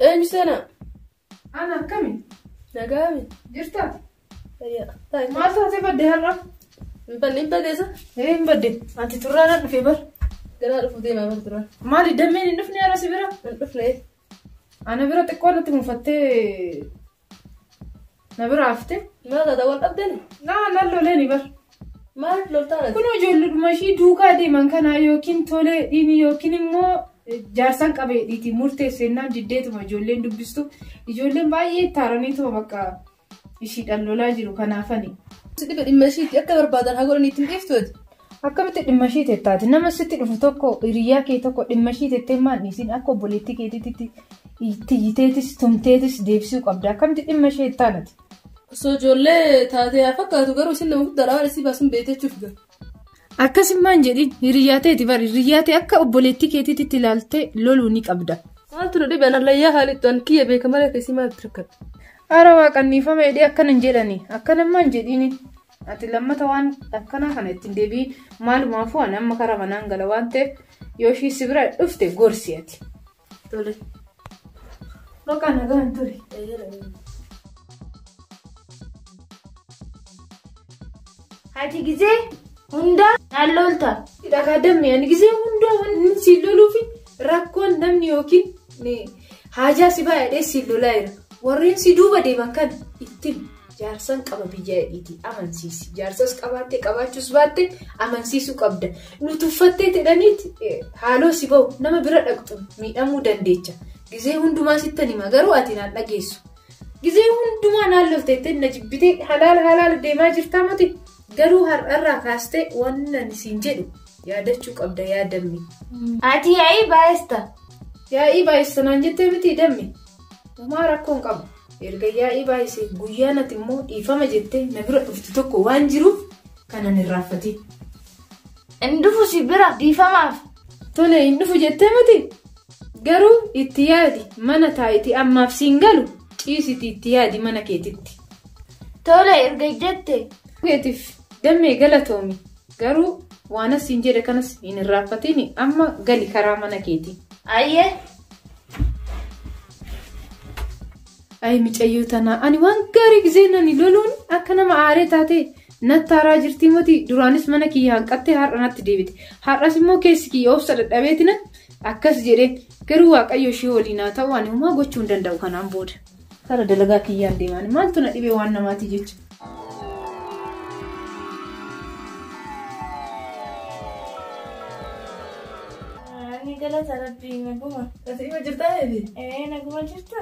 Eenyu seenaa? Ana akkami? Nagaami. Jirta? Fayyaa. Taa'e. Maal taatee badde har'a? Hin badne hin badneessa. Ee hin badde. Ati turraadha dhufee bar. Ganaa dhufu deemaa bar turan. Maali dammeen hin dhufne har'a si bira? Hin dhufne. Ana bira xiqqoo natti mufattee Na bira hafte. Maal taata wal dhabdani? Na na loleni bar. Maaliif loltaa nati? Kun ijoolludhuma ishii duukaa deeman kanaa yookiin tole dhiini yookiin immoo jaarsan qabeedhiiti murteessennaan diddeetuma ijoolleen dubbistu. Ijoolleen baay'ee itti haaraniituma bakka ishiidhaan lolaa jiru kanaafani. Si dhibe dhimma ishiitti akka barbaadan haa godhan ittiin dhiiftu ati. Akkamitti dhimma ishii teetta ati? Nama sitti dhufu tokko hiriyaa kee tokko dhimma ishii teettee maal dhiisin akka obboleettii keetiitti tiyyiteetis tumteetis deebisuu qabda. Akkamitti dhimma ishee teettaan ati? Osoo ijoollee taatee haa fakkaatu garuu isin nama guddaadha waan isii baasuun beekteechuuf galu. Akkasummaan jedhin hiriyaa teeti bari hiriyaa tee akka obboleettii keetiitti ilaaltee loluu ni qabda. Maaltu na dhibe anallayyaa haalittu an kiyya beeka malee keessi maaltu rakkata. Ara waaqanniifama jedhee akkanan jedhani akkanammaan jedhiini Ati lammata waan akkanaa kana ittiin deebii maalumaafuu ani amma karaa manaan gala waan ta'eef yoo ishii si bira dhufte gorsi ati. Tole. Bakka nagaan ture. Ati gizee hundaa naan lolta. Dhagaa dammi ani gizee hundaa wanni siin loluufi rakkoon namni yookiin haajaa si baay'ee siin lolaa jira. Warreen si duuba deeman kan ittiin. Jaarsan qaba biyya hidhiiti amansiisi. Jaarsas qabaatte qabaachuus baatte amansiisuu qabda. Nu tuffattee jedhaniiti haaloo si bahu nama bira dhaqxu miidhamuu dandeecha. Gizee hundumaa sittan hima garuu ati naan dhageessu. Gizee hundumaa naan lolteettee na jibbitee halaala halaala deemaa jirtaa miti. Garuu har'arraa kaastee waan ani siin jedhu yaadachuu qabda yaadamni. Ati yaa'ii baay'ista. Yaa'ii baay'ista naan jettee miti dammi. Homaa rakkoo hin qabu. Erga yaa'ii baay'isee guyyaan ati immoo dhiifama jettee na bira dhuftu tokko waan jiruuf kana hin irraanfatin. Hin dhufu si bira dhiifamaaf. Tole hin dhufu jettee miti? Garuu itti yaadi mana taa'iti ammaaf siin galu ciisiti itti yaadi mana keetitti. Tole erga jette. Keetiif dammee galatoomi. Garuu waanas siin jedhe kanas hin irraanfatin amma gali karaa mana keetii. Ayyee. Ayi micayyoo tanaa ani waan gaarii gisee nani loluun akka nama aaree taate natti haaraa jirtii moti duraanis mana kiyya hanqattee har'a natti deebite har'as immoo keessi kiyya obsa dadhabeetina akkas jedhee garuu waaqayyo ishee waliin haa ta'u ani homaa gochuu hin danda'u kanaan booda. Kara dalagaa kiyyaan deemaan maaltu na dhibee waan namaatii jecha. Ani galata rabbii naguma. Ati ima jirtaa eebi? Ee naguma jirta.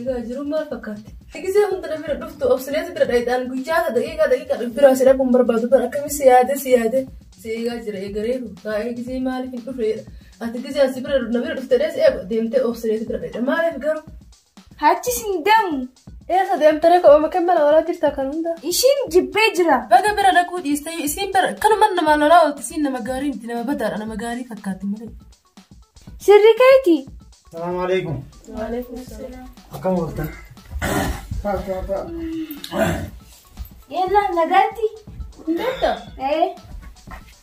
Egaa jiruun maal fakkaatti? Gisee hunda bira dhuftu obsileetu bira dhaydhaan guyyaa ka daqiiqaa daqiiqaa bira si dhaquun barbaadu bara akkami si yaade si yaade si eegaa jira eegareeru taa'ee gisee maaliif hin dhufeedha ati gisee asi bira na bira dhufte dhees eegu deemtee obsileetu bira dhaydha maaliif garuu Hachi sin demu. Eessa deemtare ko'ooma kan mana walaa jirta kan hunda. Ishiin jibbee jira. Baga bira dhaquu dhiistee isiin bira kanuman nama lolaa oolti isiin nama gaarii miti nama badaadha nama gaarii fakkaatti malee. Sirri keeti. Salaamu alaikum. Akkam ooltan? Yella nagaatti. Hundata. Ee.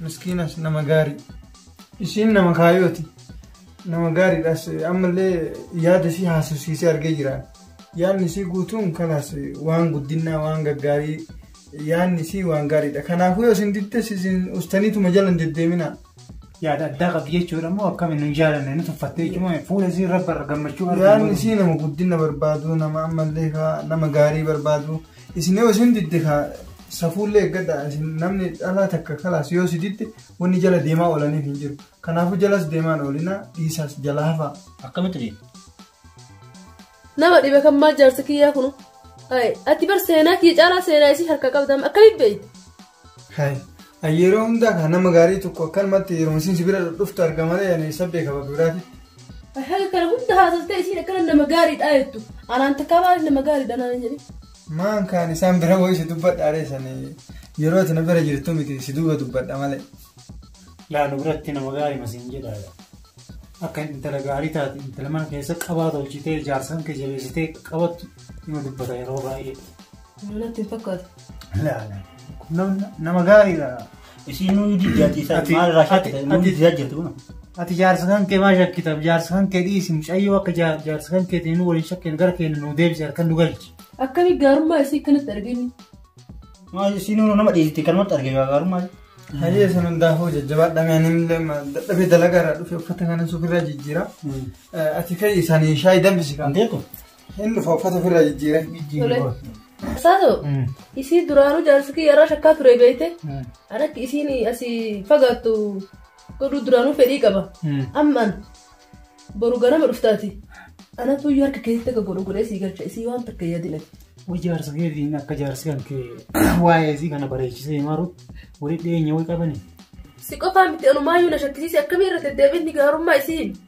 miskiinas nama gaarii ishiin nama kaayooti nama gaariidhas ammallee yaada isii haasofsiisee argee jira yaadni isii guutuun kalaas waan guddinnaa waan gaggaarii yaadni isii waan gaariidha kanaafuu yoo isin diddes isin ustaniituma jalan deddeeminaa yaada addaa qabdi jechuudha immoo akkami nu jaalanne nu tuffatte jechuudha fuula isii rabba irra gammachuu yaadni arginu isii nama guddina barbaadu nama ammallee kaa- nama gaarii barbaadu Isin yoo isin didde ka safuullee eeggadha isin namni dhalaa takka kalaas yoo si didde wanni jala deemaa oolaniif hin jiru. Kanaafuu jalas deemaan oolina dhiisaas jala hafaa. Akkamitti deema? Nama dhibe kan maal jaarsa kiyyaa kunu. Ayi, ati bar seenaa kiyya caalaa seenaa isii harka qabda amma akkamitti beeyta? Hai. Ani yeroo hundaa kan nama gaarii tokko akkanumatti yeroo isin sibira dhuftu arga malee ani isa beeka bakka biraati. Haga kana hunda haasastee isiin akkana nama gaariidha jettu. Anaan takkaa maaliif nama gaariidha naan jedhe. Maan kaan isaan bira wayii si dubbadha reessanii yeroo ati na bira jirtu miti si duuba dubbadha malee. Laalu biratti nama gaarii masiin jedhaadha. Akka intala gaarii taate intala mana keessa qabaa tolchitee jaarsan kee jabeessitee qabattu nama dubbata yeroo baay'ee. Natti hin fakkaatu. Laala. Nam- Nama gaariidha. Isiin nuyi diddaati isaa Ati- maal irraa ati- shakkite nuyi ati- diddaa jirti kun. Ati jaarsa kan kee maa shakkitaaf jaarsa kan kee dhiisi mucayyoo akka jaa- jaarsa kan keetiin nu waliin shakkeen gara keenya nu deebise harkan nu galchi. Akkami gaarummaa isii kanatti arginu. Maal isiin nuyi nama dhiisite kanumatti argee gaarummaa. Hayyee san hundaafuu jajjabaadha meeniin illee ma- dadhabee dalagaa irraa dhufe uffata kana sufirraa jijjiira. Eh, Ati ka'ii isaanii shaayii danfisi kan. Kan ta'e kun. Hin dhufa uffata ofirraa jijjiire. Tole. Saasoo Mm. isii duraanuu jaarsi kiyya irraa shakkaa ture beekte Mm. an akka isiin asii fagaattu godhuu duraanuu fedhii qaba Mm. amma an boru ganama dhuftaati anatu iyyuu harka keessatti akka godhu godhee sii galcha isii waan takka yaadinati Wai jaarsa keetiin akka jaarsi kan kee waa'ee isii kana bareechisee himaruut walitti dhiyeenya wai qabani. si qofaa miti anumaayyuu na shakkisiise akkamii irra deddeebiin ni gaarummaa isiin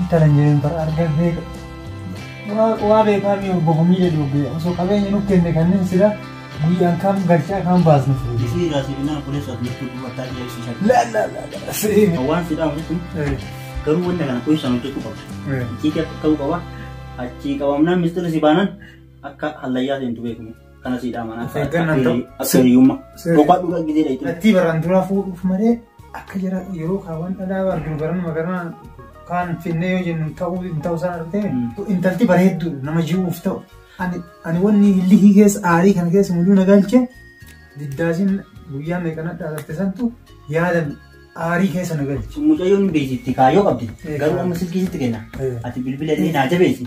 Intala hin jedhin bara arga beeka. Waa waa beekaa mi obbo Gumii jedhi obbe osoo qabeenya nuuf kenne kanneen sila guyyaan kam galchaa kam baasnu fure. Isii irraa si binnaan obboleessa ati jirtu duuba taa jira ibsi shakkii. La la la la seemi. Waan si dhaamu jechuun Eh, garuu wanta kana qoyisaan hojjechuu qabda. eh. Icciitii akka ta'uu qaba. Achii qabamnaan mistira si baanan akka hallayyaa seentu beekamu. Kana siidhaa manaa. Of eeggannaan ta'u. Akka hiriyummaa. Sirrii. Boqaa dhugaa gidee dha. Attii baraan duraa fuudhuuf malee akka jara yeroo kaawwan dhalaa arginu baran magaraa kaan finnee yoo jennu ta'uu hin ta'uu isaa argitee intalti bareedduu nama jiruuf ta'u. Ani ani wanni lihii keessa aarii kana keessa mul'uu na galche diddaasiin guyyaa meeqana dhaalatte santu yaadan aarii keessa na galche. Mucayyoon beeksitti kaayoo qabdi. Garuu amma silkii sitti kenna. Ati bilbila illee naa jabeessi.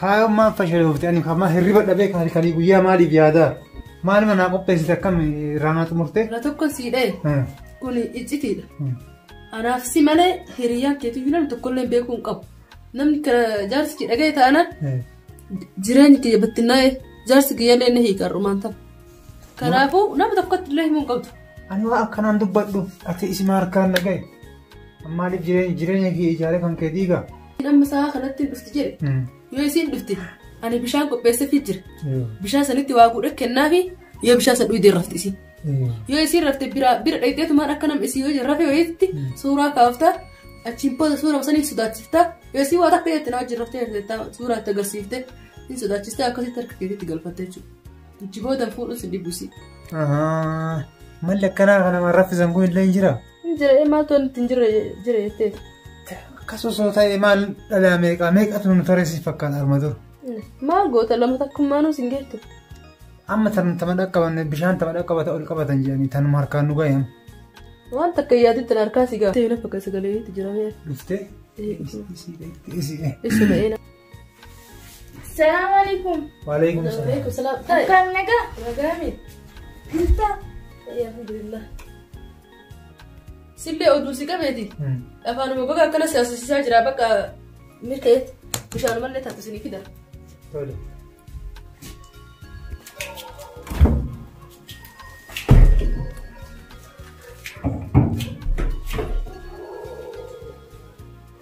Kaayoon maaf fashaloofte ani kamaa hirriba dhabee kaali kanii guyyaa maaliif yaadaa? Maaluma naa qopheessite akkam irraa naa xumurte? Irra tokko sii dhaye. Kun iccitiidha. Anaaf si malee hiriyaa keetu iyyuu namni tokkollee beekuu hin qabu. Namni jaarsi kee dhaga'e taanaan jireenyi kiyya battinnaa'e jaarsi kiyyallee ni hiika har'umaan ta'a. Kanaafuu nama tokkotti illee himuu hin qabdu. Ani waa akkanaan dubbadhu ati isima harkaan dhaga'e. Maaliif jireenya kee ijaaree kan kee diigaa? Amma sa'a kanatti hin dhufti jedhe. Yoo isiin dhufte ani bishaan qopheessafii jira. Bishaan sanitti waa guudhee kennaafi yoo bishaan san dhuydee rafti isiin. Yoo isiin rafte bira bira dhayxeetumaan akka nam isii yoo rafe wayiitti suuraa kaaftaa achiin booda suuraa saniin sodaachiftaa yoo isiin waa takka jetti naa wajjin raftee jettaa suuraa itti agarsiifte hin sodaachistee akkasitti harka keetiitti galfatte jechuudha. Ichi booda fuudhuun sin dhibusi. Malli akkanaa kana raffisan kun illee hin jiraa? Hin jira ee maaltu nutti hin jirre jira jettee. Akkas osoo ta'e maal dhalaa meeqaa meeqatu nu tarreessiif fakkaata arma dur. Maal goota lama takkummaanuu sin geettu. Amma tan tama dhaqqaban bishaan tama dhaqqabata ol qabatan jedhanii tanuma harkaan nu gayan. Waan takka yaaditti harkaa si gaafate. Ta'e lafa kan sagalee itti jiramee. Dhuftee? Ee, Isii dhaqxee isii dhaqxee. Isuma eena. Salaam alaikum. Waalaikum salaam. Waalaikum salaam. Taa'e. Akkaan nagaa. Nagaa mi? Jirta? Taa'e alhamdulillah. Sillee oduu si qabeeti. Hmm. Afaanuma baga akkana si asisiisaa jira bakka milkeet bishaan mallee taatu isinii fida. Tole.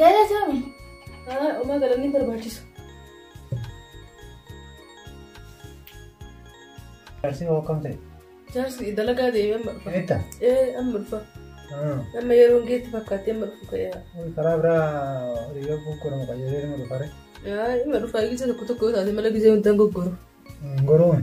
Galatoomi. Haa omaa galanni hin barbaachisu. Jaarsi hoo akkam ta'e? Jaarsi dalagaa deemee amma dhufa. Eetta? Ee amma dhufa. Amma yeroon geetti fakkaatee amma dhufu ka'eera. Karaa biraa hiriyaa gurguramu qayyaree nama dhufare. Yaa amma dhufa gisa tokko tokko yoo taate mala gisee hundaan goggoru. Goroon.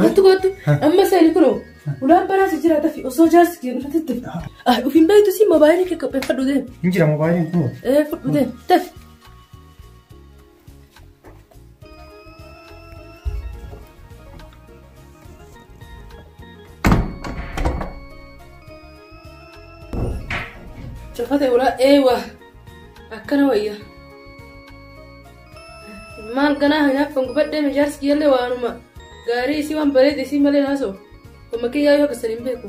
Kottu kottu amma isaanii kunoo ulaan baraas jira tafi osoo jaarsi kee dhufatitti. Ah ofiin beektu si mobaayilii kee qopheeffadhu deemu. Hin jira mobaayiliin kun. Eh fudhu deemu tafi. Cufate ulaa eewa akkana wayya. Maal ganaa hinaaffan gubadhee mijaarsi kiyyallee waanuma gaarii isii waan bareede isii malee haasoo. Amma kiyyaa yoo keessan hin beeku.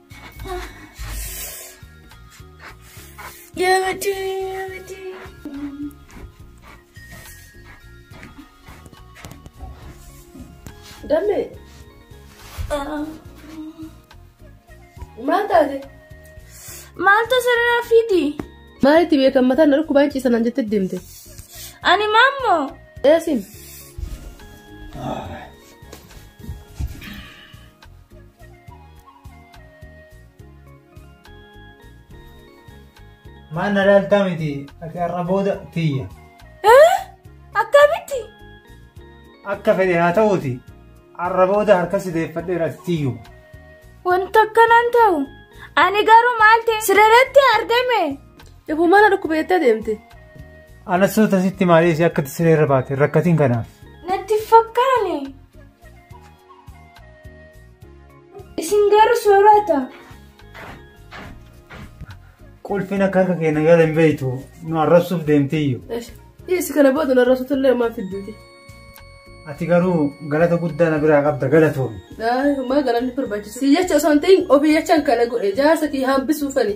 Dammi. Maal taate? Maaltu sirraa fidi? Maalitti beekan mataan na dhukkubaa hin ciisan jettee deemte. Ani maammoo. Eesin. Maal na laaltaa miti ati har'a booda tiyya. Akkamitti? Akka fedhe haa ta'uuti har'a booda harka si deeffadheera ati tiyyu. Wanta akkanaan ta'u. Ani garuu maal ta'e sirratti argame. Ifuu mana dhukkuba jettee deemte. Ana suuta sitti maalee si akka siree irra baate rakkatiin kanaaf. Natti fakkaane. Isin garuu soorata. Qulfiin akka harka keenya gala hin beektu nu arrabsuuf deemtiyyu. Dhiyeessi kana booda narra sutullee maaf fidduuti. Ati garuu galata guddaa na biraa qabda galatoomi. Maa galanni barbaachisu. Si jecha osoo hin ta'in ofii jechaan kana godhe jaarsa kee hambisuufani.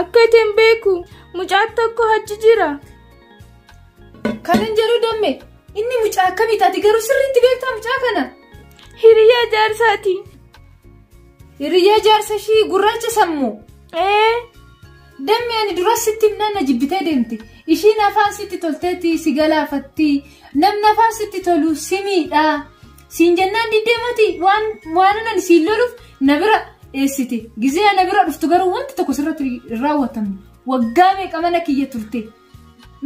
Akka itti hin beeku mucaa tokko achi jira. Kanan jedhu damme inni mucaa akkamii taati garuu sirriitti beektaa mucaa kana. Hiriyaa jaarsaati. Hiriyaa jaarsa ishii gurraacha sammuu. Ee. Dammi ani dura sitti himnaan na jibbitee deemte. Ishiin afaan sitti tolteetti si galaafatti. Namni afaan sitti tolu si miidha. Siin jennaan diddee mati waan waanan siin loluuf na bira dheessite. Gizee na bira dhuftu garuu wanti tokko sirratti hin raawwatamne. Waggaa meeqa mana kiyya turte.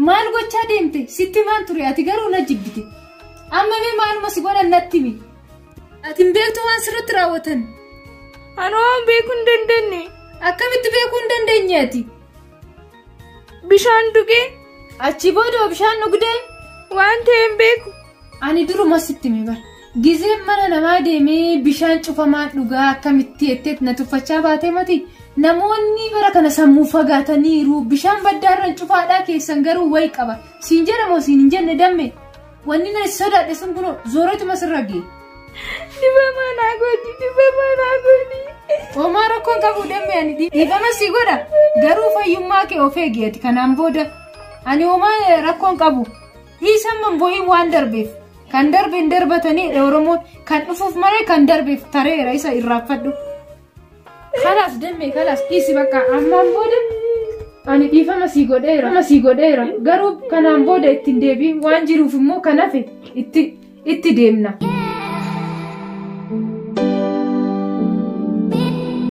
Maal gochaa deemte? Sitti maan ture ati garuu na jibbite. Amma mee maaluma si godhan natti himi. Ati hin beektu waan sirratti raawwatan. Ani waan beekuu hin dandeenye. Akkamitti beekuu hin dandeenye ati? Bishaan dhugee. Achi booda bishaan dhugdee. Waan ta'e hin beeku. Ani duruma sitti hime bara. Gizeen mana namaa deemee bishaan cufamaa dhugaa akkamitti jetteet na tuffachaa baatee mati. Namoonni bara kana sammuu fagaataniiru bishaan baddaarran cufaadhaa keessan garuu wayi qaba. Siin jedhamoo siin hin jenne damme. Wanni na sodaadhe sun kunoo zooreetuma sirra gee. Dhibamaa naa godhi dhibamaa naa godhi. Homaa rakkoon qabu dammi ani dhiifama si godha garuu fayyummaa kee of eegi ati kanaan booda ani homaa rakkoon qabu dhiisamman boo'iin waan darbeef kan darbe hin darbatanii oromoon kan dhufuuf malee kan darbeef tareera isa irraanfadhu. Kalaas demme kalaas dhiisi bakka ammaan booda ani dhiifama sii godheera dhiifama sii godheera garuu kanaan booda itti hin deebiin waan jiruuf immoo kan hafe itti itti deemna.